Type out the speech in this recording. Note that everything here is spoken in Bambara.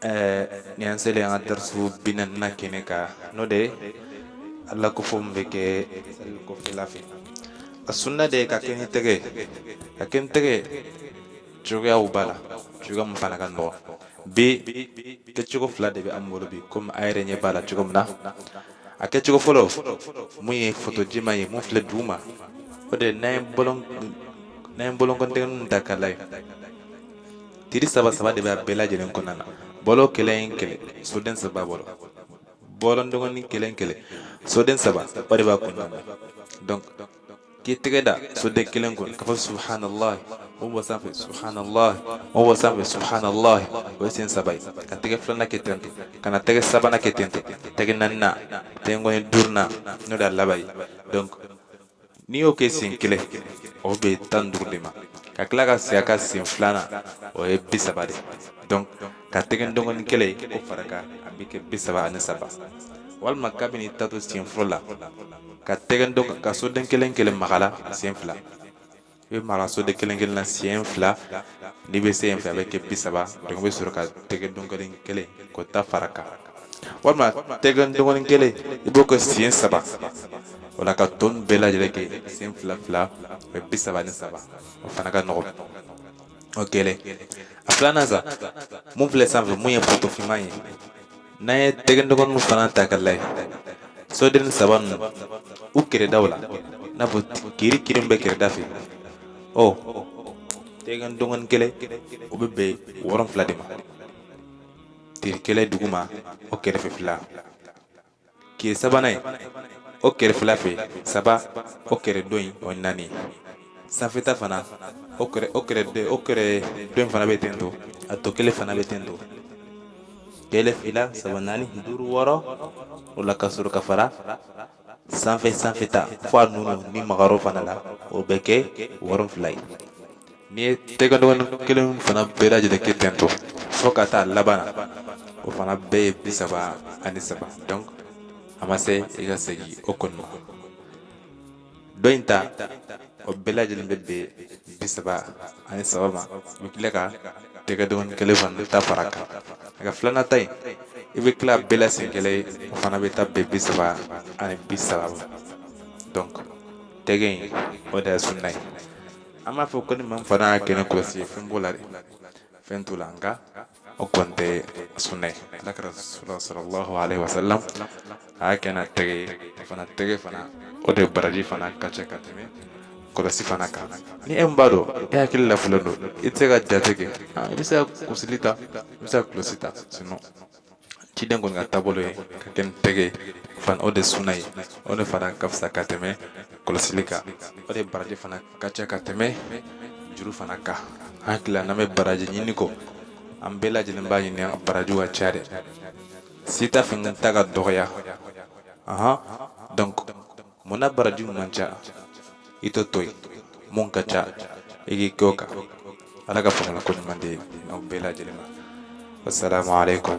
eh, ni an selen an ka darisu bi naaninan kɛnɛ kan n'o de Ala kofɔ min bɛ kɛ sali kɔfɛla fɛ a sunna de ka kɛ ni tɛgɛ ka kɛ ni tɛgɛ ye cogoyaw b'a la cogoya min fana ka nɔgɔn bi kɛcogo fila de bɛ an bolo bi komi a yɛrɛ ɲɛ b'a la cogo min na a kɛcogo fɔlɔ mun ye foto jɛman ye mun filɛ duguma o de n'an ye bolon n'an ye bolonkɔn tɛgɛ ninnu ta k'a lajɛ tiri saba saba de bɛ a bɛɛ lajɛlen kɔnɔna na bolo kelen kelen soden saba bolo bolondɔgɔnin kelen kelen soden saba o de b'a kɔnɔna na donc k'i tɛgɛ da soden kelen kun k'a fɔ subhanallah o bɔ sanfɛ subhanallah o bɔ sanfɛ subhanallah o ye siɲɛ saba ye ka tɛgɛ filanan kɛ ten ten ka na tɛgɛ sabanan kɛ ten ten tɛgɛ naaninan tɛgɛkɔni duurunan n'o de y'a laban ye donc n'i y'o kɛ siɲɛ kelen o bɛ tan duuru de ma ka tila ka segin a kan siɲɛ filanan o ye bi saba de donc ka tɛgɛ dɔgɔni kelen ye k'o fara kan a bɛ kɛ bi saba ani saba walima kabini taatɔ siɲɛ fɔlɔ la ka tɛgɛ dɔgɔn ka soden kelen kelen maga a la siɲɛ fila i bɛ maga soden kelen kelen na siɲɛ fila n'i bɛ se yen fɛ a bɛ kɛ bi saba donc i bɛ sɔrɔ ka tɛgɛ dɔgɔn kelen kelen k'o ta fara kan walima tɛgɛ dɔgɔnin kelen i b'o kɛ siɲɛ saba o la ka tɔ in bɛɛ lajɛlen kɛ siɲɛ fila fila o ye bi saba ni saba o fana ka nɔgɔn o kelen a filanan sa mun filɛ sanfɛ mun ye foto finman ye n'an ye tɛgɛ dɔgɔninw fana ta k'a lajɛ soden saba ninnu u kɛrɛdaw la n'a fɔ tiri tiri mun bɛ kɛrɛda fɛ ɔ tɛgɛ dɔgɔnin kelen o bɛ bɛn wɔɔrɔ fila de ma tiri kelen duguma o kɛrɛfɛ fila kɛrɛ sabanan ye o kɛrɛ fila fɛ saba o kɛrɛ dɔ in o ye naani ye sanfɛta fana o kɛrɛ o kɛrɛ dɔ o kɛrɛ dɔ in fana bɛ ten to a tɔ kelen fana bɛ ten to kelen fila saba naani duuru wɔɔrɔ o la ka sɔrɔ ka fara sanfɛ sanfɛta fo a nunnin magayɔrɔ fana la o bɛ kɛ wɔɔrɔ fila ye N'i ye tɛgɛdɔgɔnin kelen fana bɛɛ lajɛlen kɛ ten to fo ka taa a laban na o fana bɛɛ ye bi saba ani saba donc a ma se i ka segin o kɔni ma dɔ in ta o bɛɛ lajɛlen bɛ bɛn bi saba ani saba ma i bɛ tila ka tɛgɛ dɔgɔnin kelen fana ta fara kan nka filanan ta in i bɛ tila bɛɛ la siɲɛ kelen o fana bɛ taa bɛn bi saba ani bi saba ma donc tɛgɛ in o de ye sunna ye an m'a fɔ ko ni maa fana y'a kɛ ni kɔlɔsi ye fɛn b'o la dɛ fɛn t'o la nka o kɔni tɛ suna ye ala kira sallallahu alayhi wa sallam a y'a kɛ n'a tɛgɛ fana tɛgɛ fana o de baraji fana ka ca ka tɛmɛ kɔlɔsi fana kan ni e min b'a dɔn i hakili lafililen don i tɛ se ka jate kɛ i bɛ se ka kusili ta i bɛ se ka kɔlɔsi ta sinɔn ciden kɔni ka taabolo ye k'a kɛ ni tɛgɛ ye fan o de suna ye o de fana ka fisa ka tɛmɛ kɔlɔsili kan o de baraji fana ka ca ka tɛmɛ juru fana kan an hakili la n'an bɛ baraji ɲini ko an bɛɛ lajɛlen b'a ɲini an barajiw ka ca dɛ si t'a fɛ n ta ka dɔgɔya ahan donc mun na baraji man ca i t'o to yen mun ka ca i k'i kɛ o kan ala ka faamuyali ko ɲuman di aw bɛɛ lajɛlen ma wasalamu aleykum